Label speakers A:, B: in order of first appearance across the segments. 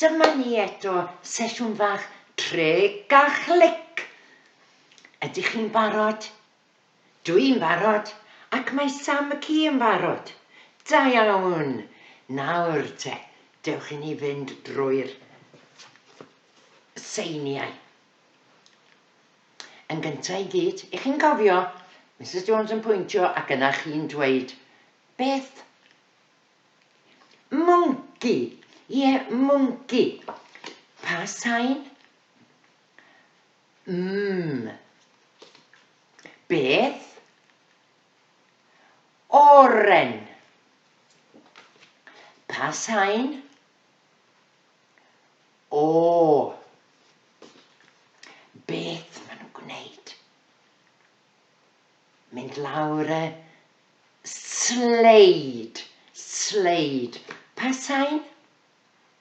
A: Dyma ni eto, sesiwn fach treg a chlic. Ydych chi'n barod? Dw i'n barod, ac mae Sam McKee yn barod. Da iawn! Nawr te, dewch i ni fynd drwy'r seiniau. Yn gyntaf i gyd, i chi'n cofio, Misus Jones yn pwyntio ac yna chi'n dweud, beth? Mwnci! Ie, mwnci! Pa sain? Ym. Beth? Oren. Pa sain? O. Beth maen nhw'n gwneud? Mynd lawr y sleid. Sleid. Pa sain?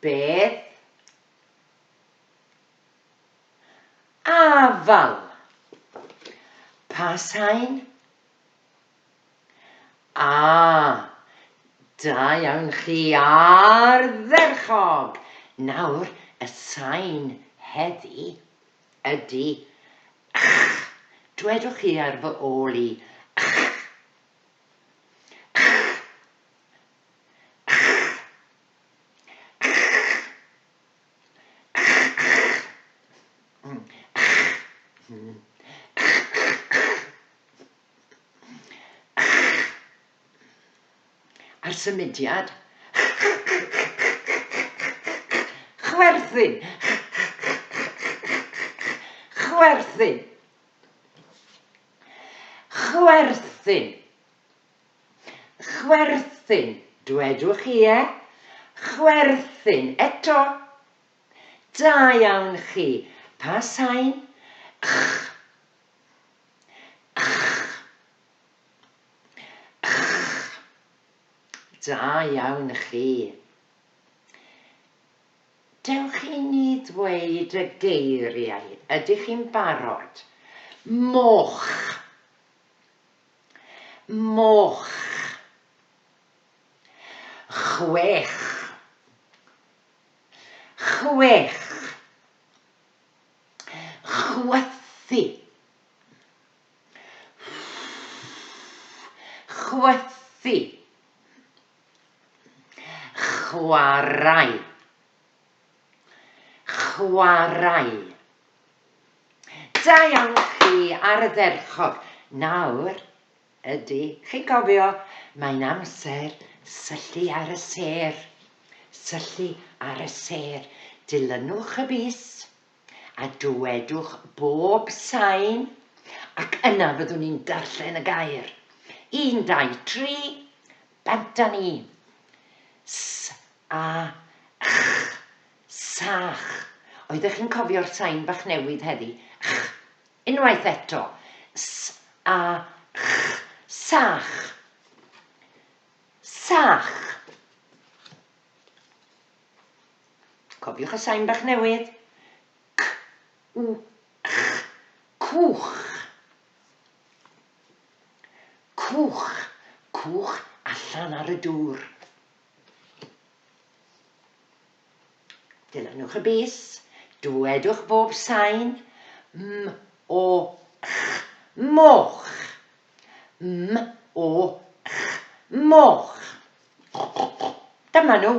A: Beth? Afal. Pa sain? A, da iawn chi, ardderchog! Nawr, y sain heddi ydy ch. Dwedwch chi ar fy ôl i, ch. A'r symudiad? Chwerthin! Chwerthin! Chwerthin. Chwerthin, dwedwch chi, ie? Chwerthin, eto. Da iawn chi. Pa sain? Ch. Ch. Ch. Da iawn chi. Dewch i ni ddweud y geiriau, ydych chi'n barod? Moch. Moch. Chwech. Chwech. Chwythu. Chwythu. Chwarae Chwarae Da iawn chi ardderchog. Nawr, ydy, chi'n cofio, mae'n amser syllu ar y sêr. Syllu ar y sêr. Dilynwch y bys, a dywedwch bob sain ac yna fyddwn i'n darllen y gair. Un, dau, tri, bant â ni. S, a, ch, sach. Oeddech chi'n cofio'r sain bach newydd heddi? Ch. Unwaith eto. S, a, ch, sach. Sach. Cofiwch y sain bach newydd, C, W, Ch, cwch. Cwch, cwch allan ar y dŵr. Dilynwch y bys, dwedwch bob sain, M, O, Ch, moch. M, O, Ch, moch. Dyma nhw.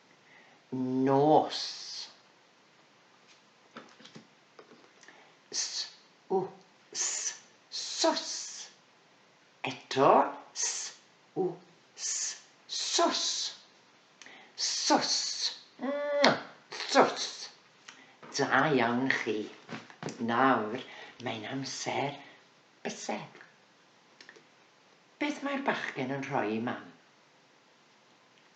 A: nos. S, u, s, sos. Eto, s, u, s, sos. Sos. Mwah! Sos. Da iawn chi. Nawr, mae'n amser bysedd. Beth mae'r bachgen yn rhoi i Mam?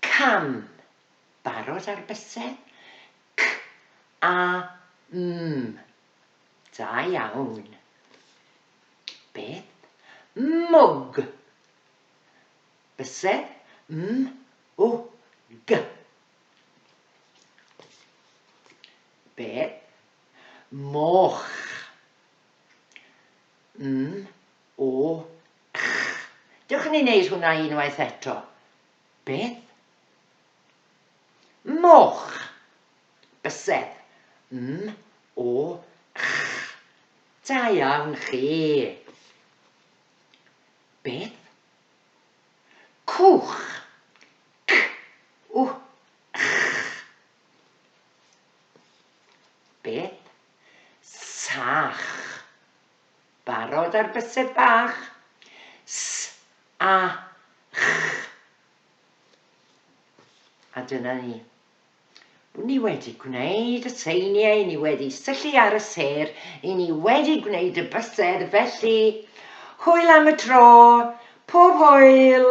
A: Cam, barod ar bysedd? C, a, m, da iawn. Beth? Mwg. Bysedd, m, w, g. Beth? Moch. M, O, ych! Dewch ni wneud hwnna unwaith eto. Beth? Moch! Bysedd. M, o, ych! Da iawn chi! Beth? Cwch! C, w, ych! Beth? Sach! Barod ar bysedd bach? S, a, ch. A dyna ni. Wn ni wedi gwneud y seiniau, ni wedi syllu ar y ser, i ni wedi gwneud y bysedd, felly hwyl am y tro, pob hwyl!